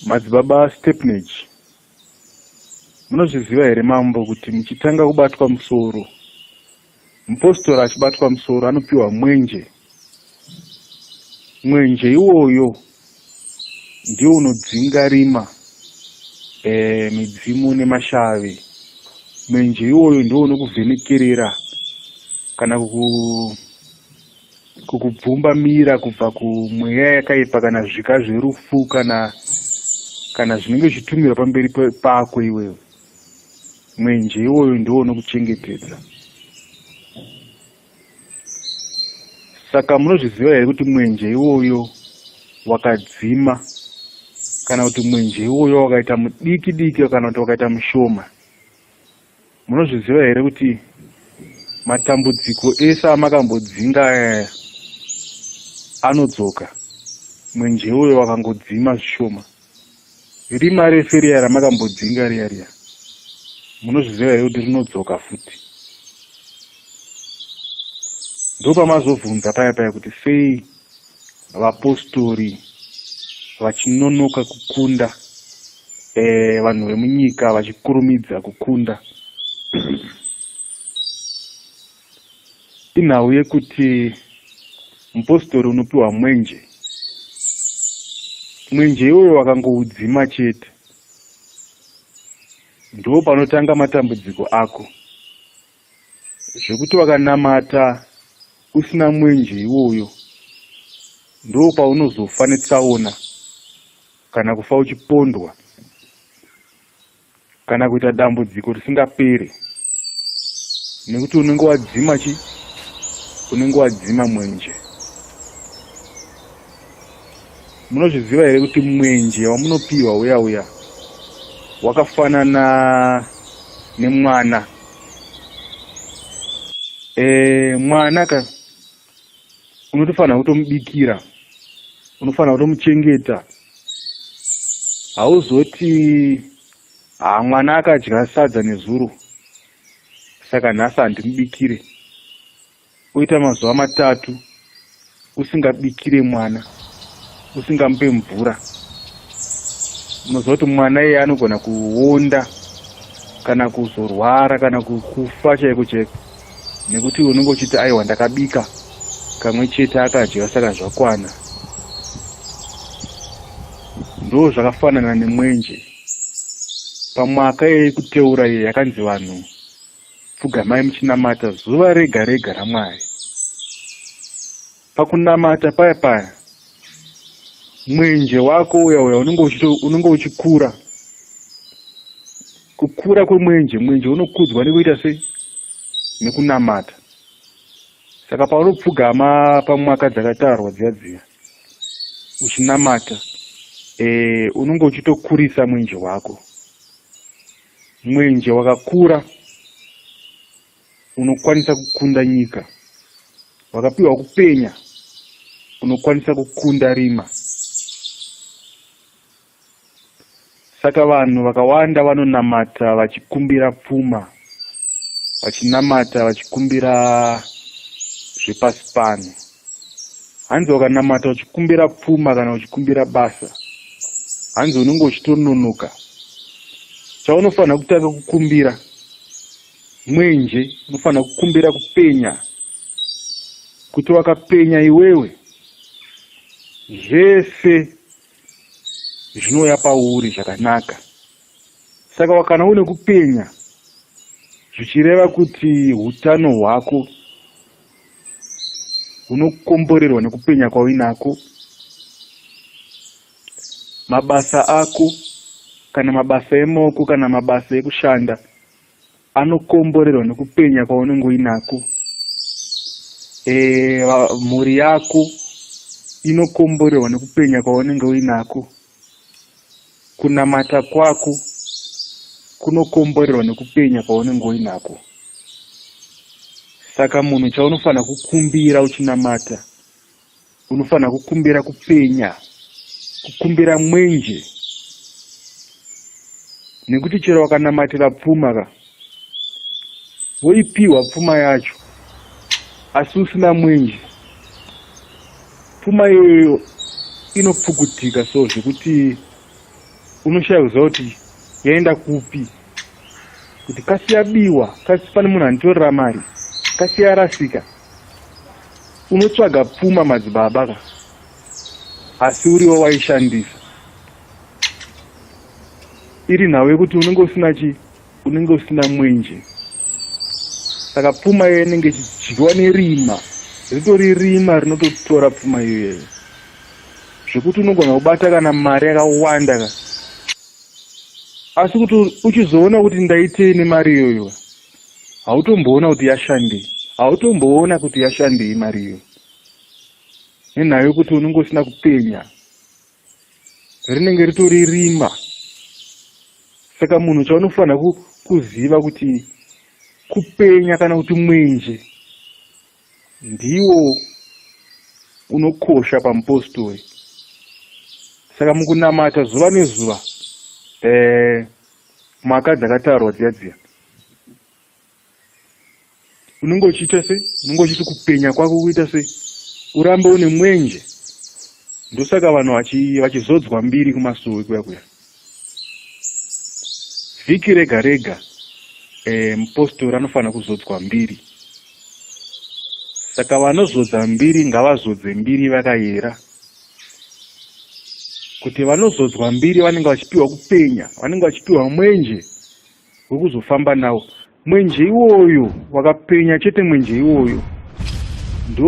Madzibaba Stepnage, munozviziva here mambo kuti muchitanga kubatwa musoro, mupostora achibatwa musoro anopiwa mwenje. Mwenje iwoyo ndiwo unodzinga rima, e, midzimu nemashavi. Mwenje iwoyo ndiwo unokuvhenekerera kana kuku kukubvumba mira kubva kumweya yakaipa kana zvika zverufu kana kana zvinenge zvitumira pamberi pako iwewe mwenje iwoyo ndiwo unokuchengetedza saka munozviziva here kuti mwenje iwoyo wakadzima kana kuti mwenje iwoyo wakaita mudiki diki kana kuti wakaita mushoma munozviziva here kuti matambudziko ese amakambodzinga ayaya anodzoka mwenje uyo wakangodzima zvishoma rima refe riya ramakambodzinga riya riya munozviziva here kuti rinodzoka futi ndopamazobvunza paya paya kuti sei vapostori vachinonoka kukunda eh, vanhu e, vemunyika vachikurumidza kukunda inhau yekuti mupostori unopiwa mwenje mwenje iwoyo wakangoudzima chete ndo panotanga matambudziko ako zvekuti wakanamata usina mwenje iwoyo ndo paunozofa netsaona kana kufa uchipondwa kana kuita dambudziko risingapere nekuti unenge wadzima chi unenge wadzima mwenje Munozviziva here kuti mwenje wamunopiwa uya uya wakafanana nemwana e, mwana ka unotofanira kutomubikira unofanira kutomuchengeta hauzoti haa mwana akadya sadza nezuro saka nhasi handimubikire oita mazuva matatu usingabikire mwana usingamupe mvura unoziva kuti mwana iye anogona kuonda kana kuzorwara kana kufa chaiko chaiko nekuti unenge uchiti aiwa ndakabika kamwe chete akadya saka zvakwana ndo zvakafanana nemwenje pamwaka yekuteura iyo yakanzi vanhu pfugamai muchinamata zuva rega rega ramwari pakunamata paya paya mwenje wako uya uya unenge uchikura kukura kwemwenje mwenje unokudzwa nekuita sei nekunamata saka paunopfugama pamwaka dzakatarwa dziya dziya uchinamata e, unenge uchitokurisa mwenje wako Mwenje wakakura unokwanisa kukunda nyika, wakapiwa kupenya unokwanisa kukunda rima. Saka vanhu vakawanda vanonamata vachikumbira pfuma, vachinamata vachikumbira zvepasi pano. hanzi wakanamata uchikumbira pfuma kana uchikumbira basa hanzi unenge uchitononoka chaunofanira kutanga kukumbira mwenje unofanira kukumbira kupenya kuti wakapenya iwewe zvese zvinouya pauri zvakanaka saka wakana une kupenya zvichireva kuti utano hwako unokomborerwa nekupenya kwauinako mabasa ako kana mabasa emoko kana mabasa ekushanda anokomborerwa nekupenya kwaunenge uinako e, mhuri yako inokomborerwa nekupenya kwaunenge uinako kunamata kwako kunokomborerwa nekupenya kwaunenge uinako saka munhu chaunofanira kukumbira uchinamata unofanira kukumbira kupenya kukumbira mwenje nekuti chero wakanamatira pfuma ka woipiwa pfuma yacho asi usina mwenje pfuma iyoyo inopfukutika so zvekuti unoshaya kuziva kuti yaenda kupi kuti kasi yabiwa kasi pane munhu anditorera mari kasi yarasika unotsvaga pfuma madzibaba ka asi uriwo waishandisa iri nhau yekuti unenge usina chii unenge usina mwenje saka pfuma iyoyo inenge ichidyiwa nerima ritori rima rinototora pfuma iyoyeyo zvekuti unogona kubata kana mari yakawanda ka asi kuti uchizoona kuti ndaitei nemari iyoyo hautomboona kuti yashandei hautomboona kuti yashandei mari iyoyo nenhayo yekuti unenge usina kupenya rinenge ritori rima saka munhu chaunofanira kuziva kuti kupenya kana kuti mwenje ndiwo unokosha pamupostori saka mukunamata zuva nezuva um mhaka dzakataurwa dziya dziya unenge uchiita sei unenge uchiti kupenya kwako kuita sei urambe une mwenje ndosaka vanhu vachizodzwa mbiri kumasowe kuya kuya vhiki rega rega eh, mupostori anofanira kuzodzwa mbiri saka vanozodza mbiri ngavazodze mbiri vakayera kuti vanozodzwa mbiri vanenge vachipiwa kupenya vanenge vachipiwa mwenje wekuzofamba nawo mwenje iwoyo wakapenya chete mwenje iwoyo ndo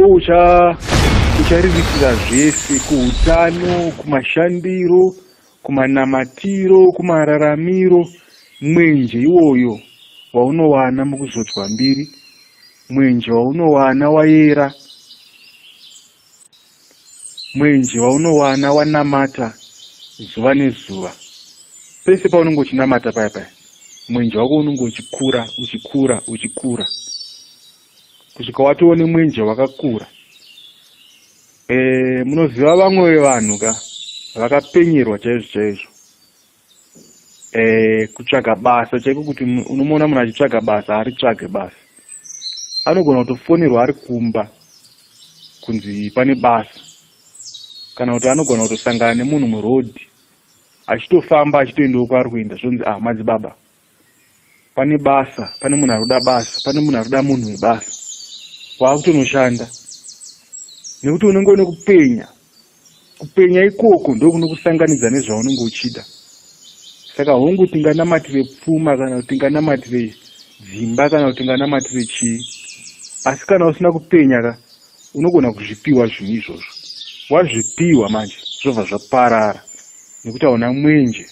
uchariritira zvese kuutano kumashandiro kumanamatiro kumararamiro mwenje iwoyo waunowana mukuzodzwa mbiri mwenje waunowana wayera mwenje waunowana wanamata zuva nezuva pese paunenge uchinamata paya paya mwenje wako unenge uchikura uchikura uchikura kusvika watoone mwenje wakakura e, munoziva vamwe vevanhu ka vakapenyerwa chaizvo chaizvo eh, kutsvaga basa chaiko kuti unomuona munhu achitsvaga basa haritsvage basa anogona kutofonerwa ari kumba kunzi pane basa kana kuti anogona kutosangana nemunhu muroad achitofamba achitoendawo kwaari kuenda zvonzi ah madzibaba pane basa pane munhu arikuda basa pane munhu arikuda munhu webasa waakutonoshanda nekuti unenge une kupenya kupenya ikoko ndokunokusanganidza nezvaunenge uchida saka hongu tinganamatire pfuma kana kuti tinganamatire dzimba kana kuti tinganamatire chii asi kana usina kupenya ka unogona kuzvipiwa zvinhu izvozvo wazvipiwa manje zvobva zvaparara nekuti hauna mwenje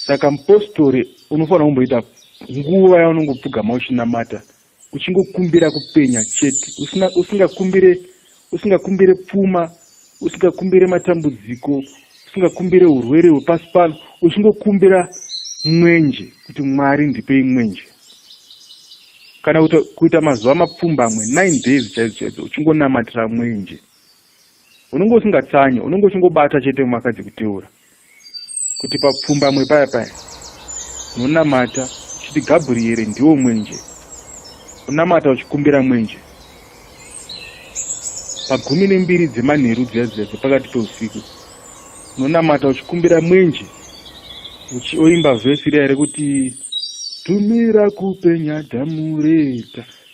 saka mupostori unofanira kumboita nguva yaunongopfugama uchinamata uchingokumbira kupenya chete usingakumbire usingakumbire pfuma usingakumbire matambudziko usingakumbire urwere hwepasi pano uchingokumbira mwenje kuti mwari ndipei mwenje kana kuita mazuva mapfumbamwe nine days chaidzo chaidzo uchingonamatira mwenje unenge usingatsanyi unenge uchingobata chete mumakadzi kuteura kuti papfumbamwe paya paya unonamata uchiti gabriere ndiwo mwenje unamata uchikumbira mwenje pagumi nembiri dzemanheru dziya dziya dzepakati peusiku unonamata uchikumbira mwenje uchioimba vhesi riya rekuti tumira kupenya dhamureta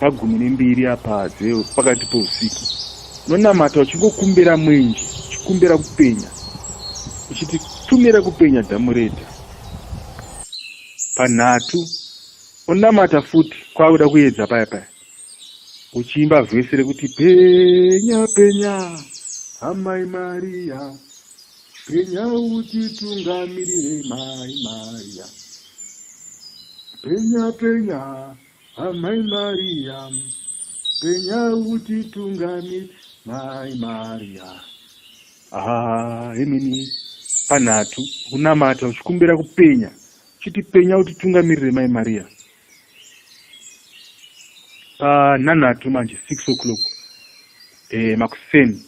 pagumi nembiri apa dzeo pakati pousiku unonamata uchingokumbira mwenje uchikumbira kupenya uchiti tumira kupenya dhamureta panhatu unonamata futi kwakuda kuedza paya paya uchiimba vhesi rekuti penya penya amai mariya penya utitungamirire mai mariya penya penya Amai Maria, penya utitungami, Mai Maria. Ah, imini panhatu kunamata uchikumbira kupenya chiti penya utitungamirire Mai Maria. Panhanhatu manje 6 o'clock eh, makuseni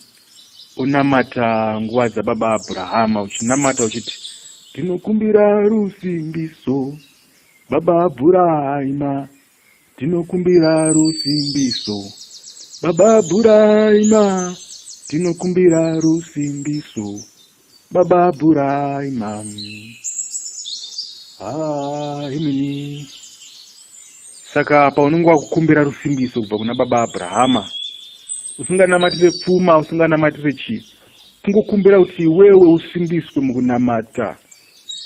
unamata nguva dzababa Abrahama uchinamata uchiti ndinokumbira rusimbiso Baba Bhuraima, tinokumbira rusimbiso. Baba Bhuraima, tinokumbira rusimbiso. Baba Bhuraima. Ah, imini. Saka apa unenge wakukumbira rusimbiso kubva kuna baba Abrahama. Usinganamatire pfuma, usinganamatire chii. Kungokumbira kuti iwewe usimbiswe mukunamata.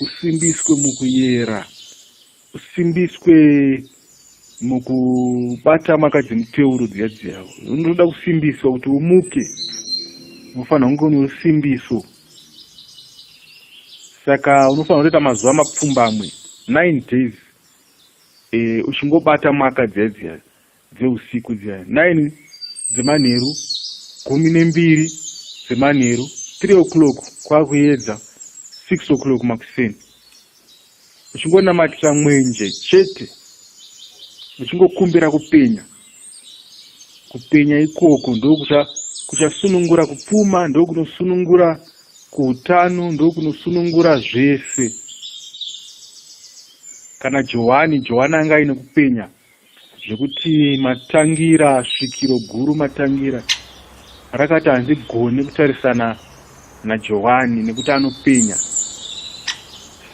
usimbiswe mukuyera usimbiswe mukubata maka dzemuteuro dziya dziyavo unotoda kusimbiswa kuti umuke unofanira kunge une usimbiso saka unofanira kutoita mazuva mapfumbamwe nine days e, uchingobata maka dziya dziya dzeusiku dziya 9 dzemanheru gumi nembiri dzemanheru 3 o'clock kwakuyedza 6 o'clock makuseni uchingonamatira mwenje chete uchingokumbira kupenya kupenya ikoko ndokuchasunungura kupfuma ndokunosunungura kuutano ndokunosunungura zvese kana johani johani anga aine kupenya zvekuti matangira svikiro guru matangira rakati handigoni kutarisana najohani nekuti anopenya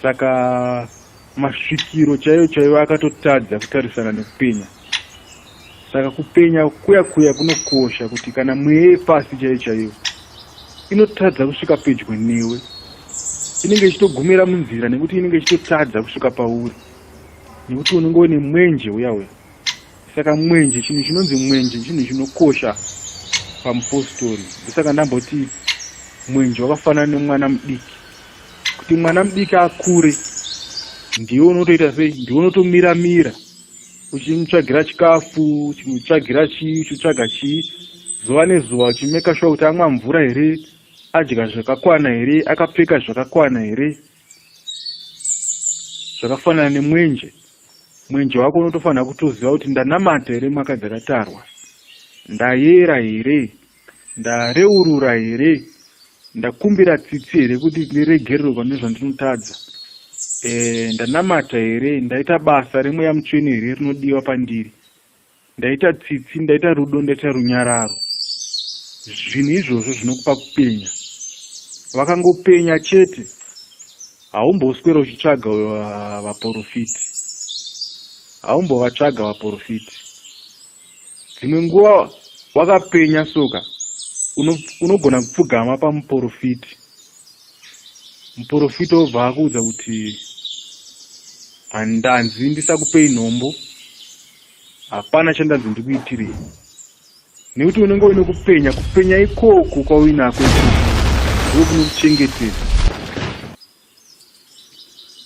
saka masvikiro chaiyo chaiyo akatotadza kutarisana nekupenya saka kupenya kuya kuya kunokosha kuti kana mweya yepasi chaiyo chaiyo inotadza kusvika pedyo newe inenge ichitogumira munzira nekuti inenge ichitotadza kusvika pauri nekuti unenge une mwenje uya uya saka mwenje chinhu chinonzi mwenje chinhu chinokosha pamupostori ndosaka ndamboti mwenje wakafanana nemwana mudiki kuti mwana mudiki akure ndiwe unotoita sei ndiwe unotomira mira uchimutsvagira chikafu uchimutsvagira chii uchitsvaga chii zuva nezuva uchimeka shuwa kuti amwa mvura here adya zvakakwana here akapfeka zvakakwana here zvakafanana nemwenje mwenje wako unotofanira kutoziva kuti ndanamata here mwaka dzakatarwa ndayera here ndareurura here ndakumbira tsitsi here kuti ndiregerero pane zvandinotadza e, ndanamata here ndaita basa remweya mutsvene here rinodiwa pandiri ndaita tsitsi ndaita rudo ndaita runyararo zvinhu izvozvo zvinokupa kupenya vakangopenya chete haumboswera uchitsvaga uh, vaporofiti haumbovatsvaga vaporofiti dzimwe nguva wakapenya soka unogona kupfugama pamuporofiti muporofiti obva akuudza kuti handanzi ndisakupei nhombo hapana chandanzi ndikuitirei nekuti unenge uine kupenya kupenya ikoku kwauinako iko kunokuchengetedza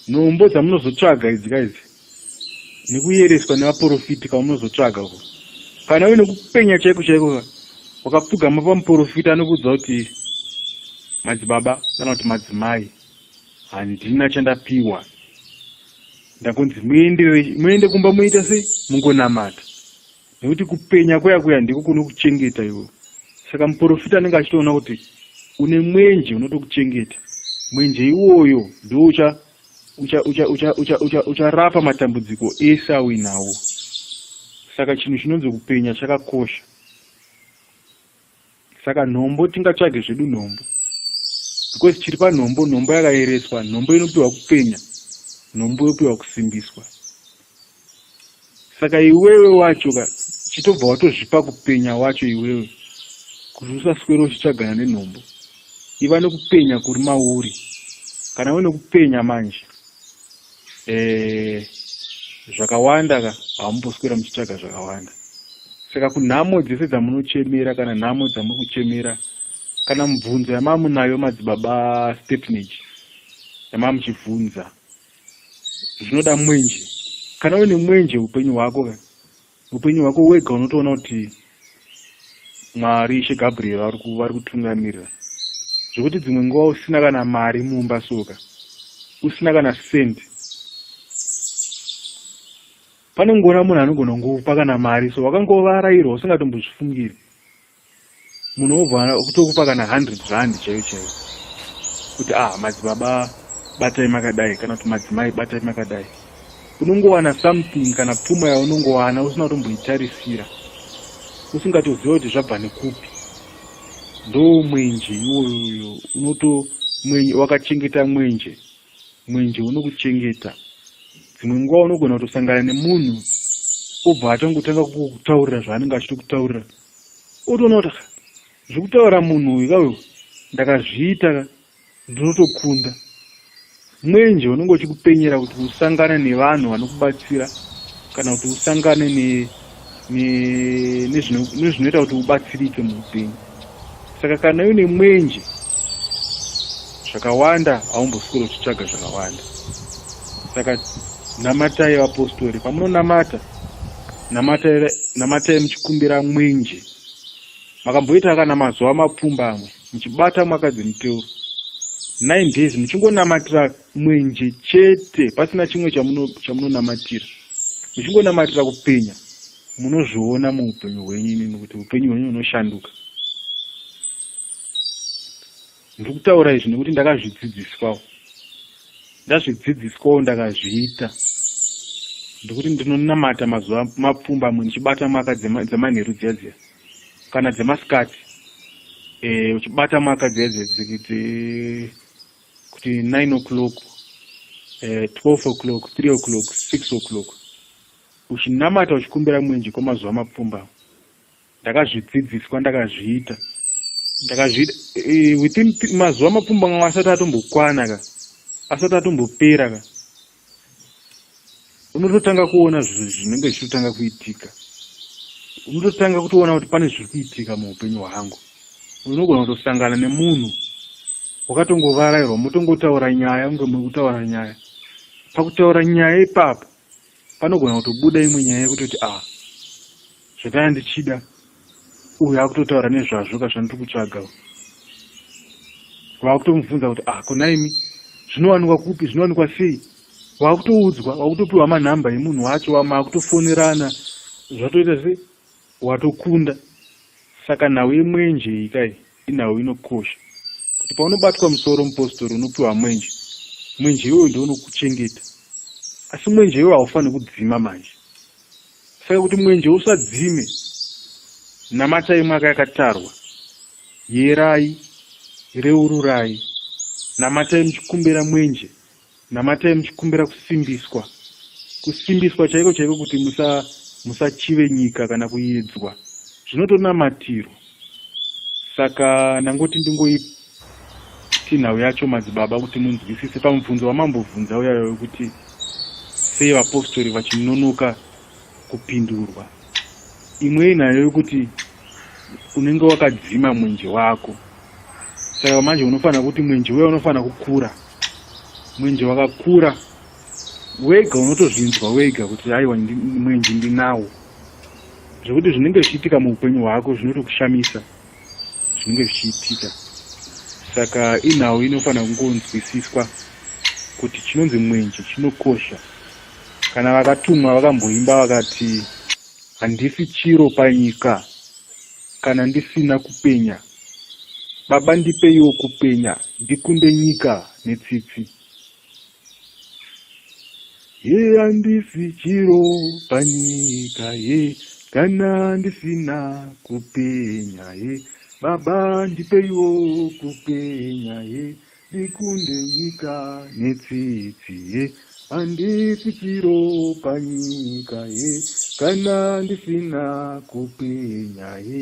nhombo dzamunozotsvaga idzi ka idzi nekuyereswa nevaprofiti kwamunozotsvaga ko kana uine kupenya chaiko chaiko ka wakapfugama pamuprofiti anokuudza kuti madzibaba kana kuti madzimai handina chandapiwa ndakunzi muende muende kumba muita sei mungonamata nekuti kupenya kuya kuya ndiko kunokuchengeta iwe saka muprofita anenge achitoona kuti une mwenje unotokuchengeta mwenje iwoyo ndoucha ucharapa matambudziko ese auinawo saka chinhu chinonzi kupenya chakakosha saka nhombo tingatsvage zvedu nhombo because chiri panhombo nhombo yakayereswa nhombo inopiwa kupenya nhombo yopiwa kusimbiswa saka iwewe wacho ka chitobva watozvipa kupenya wacho iwewe kuti usaswere uchitsvagana nenhombo iva nekupenya kuri mauri kana uine kupenya manje eh, zvakawanda ka hamumboswera muchitsvaga zvakawanda saka kunhamo dzese dzamunochemera kana nhamo dzamuri kuchemera kana mubvunzo yamamunayo madzibaba stepnage yamamuchibvunza zvinoda mwenje kana une mwenje upenyu hwako ka Upenyu hwako wega unotoona kuti Mwari Ishe Gabriel vari kutungamirira zvekuti dzimwe nguva usina kana mari mumba soka usina kana sendi pane ngona munhu anogona ngokupa kana mari so wakangova arayirwa usingatombozvifungiri munhu obva kutokupa kana 100 rand chaiyo chaiyo kuti ah madzibaba batai makadai kana kuti madzimai batai makadai unongowana something kana pfuma yaunongowana usina kutomboitarisira usingatoziva kuti zvabva nekupi ndo mwenje iwoyoyo unoto mwenje wakachengeta mwenje mwenje unokuchengeta dzimwe nguva unogona kutosangana nemunhu obva atongotanga kutaurira zvaanenge achito kutaurira otonota ka zvekutaura munhu uyu ka uyu ndakazviita ka ndinotokunda mwenje unenge uchikupenyera kuti usangane nevanhu vanokubatsira kana kuti usangane nezvinoita kuti ubatsirike muupenyu saka kana uine mwenje zvakawanda haumboswero uchitsvaga zvakawanda saka namatai vapostori pamunonamata namatai muchikumbira mwenje makamboita kana mazuva mapfumbamwe muchibata mwaka dzemuteuro nine days muchingonamatira mwenje chete pasina chimwe chamunonamatira muchingonamatira kupenya munozviona muupenyu hwenyu inini kuti upenyu hwenyu hunoshanduka Ndiri kutaura izvi nekuti ndakazvidzidziswawo, ndazvidzidziswawo ndakazviita ndekuti ndinonamata mazuva mapfumbamwe ndichibata mwaka dzemanheru dziya dziya kana dzemasikati eh, uchibata mwaka dziya dziya kuti nine o'clock eh, twelve o'clock three o'clock six o'clock uchinamata uchikumbira mwenje kwamazuva mapfumbamwe ndakazvidzidziswa ndakazviita ndakazviita eh, within mazuva mapfumbamwe asati atombokwana ka asati atombopera ka unototanga kuona zvinhu zvinenge zvichitotanga kuitika unototanga kutoona kuti pane zviri kuitika muupenyu hwangu unogona kutosangana nemunhu wakatongovarairwa motongotaura nyaya kunge muri kutaura nyaya pakutaura nyaya ipapo panogona kutobuda imwe nyaya yekutoti a ah, zvakaya ndichida uyu akutotaura nezvazvo ka zvandiri kutsvaga vakutomubvunza kuti a ah, konaimi zvinowanikwa kupi zvinowanikwa sei wakutoudzwa wakutopiwa manhamba emunhu wacho wamaakutofonerana zvatoita se watokunda saka nhau yemwenje ikai Inhau inokosha kuti paunobatwa musoro mupostori unopiwa mwenje. Mwenje iwoyo ndiwo unokuchengeta, asi mwenje iwoyo haufaniri kudzima manje. Saka kuti mwenje usadzime, namatai mwaka yakatarwa, yerai, reururai, namatai muchikumbira mwenje Namatai muchikumbira kusimbiswa, kusimbiswa chaiko chaiko kuti musa musachive nyika kana kuidzwa. Zvinotonamatirwa. Saka ndangoti ndingoipa tinhau yacho madzibaba kuti munzwisise pamubvunzo wamambobvunza uyayo wekuti sei vapostori vachinonoka kupindurwa. imwe inayo yokuti unenge wakadzima mwenje wako saka manje unofanira kuti mwenje uya unofanira kukura mwenje wakakura wega unotozvinzwa wega kuti aiwa mwenje ndinawo zvekuti zvinenge zvichiitika muupenyu hwako zvinotokushamisa zvinenge zvichiitika saka inhau inofanira kungonzwisiswa kuti chinonzi mwenje chinokosha kana vakatumwa vakamboimba vakati handisi chiro panyika kana ndisina kupenya baba ndipeiwo kupenya ndikunde nyika netsitsi Ye handisi chiro panyika ye kana ndisina kupenya ye baba ndipeiwo kupenya ye ndikunde nyika netsitsi ye handisi chiro panyika ye kana ndisina kupenya ye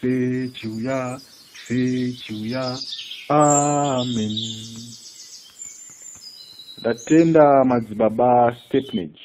Fe chiuya, fe chiuya, amen. Ndatenda madzibaba Stepnage.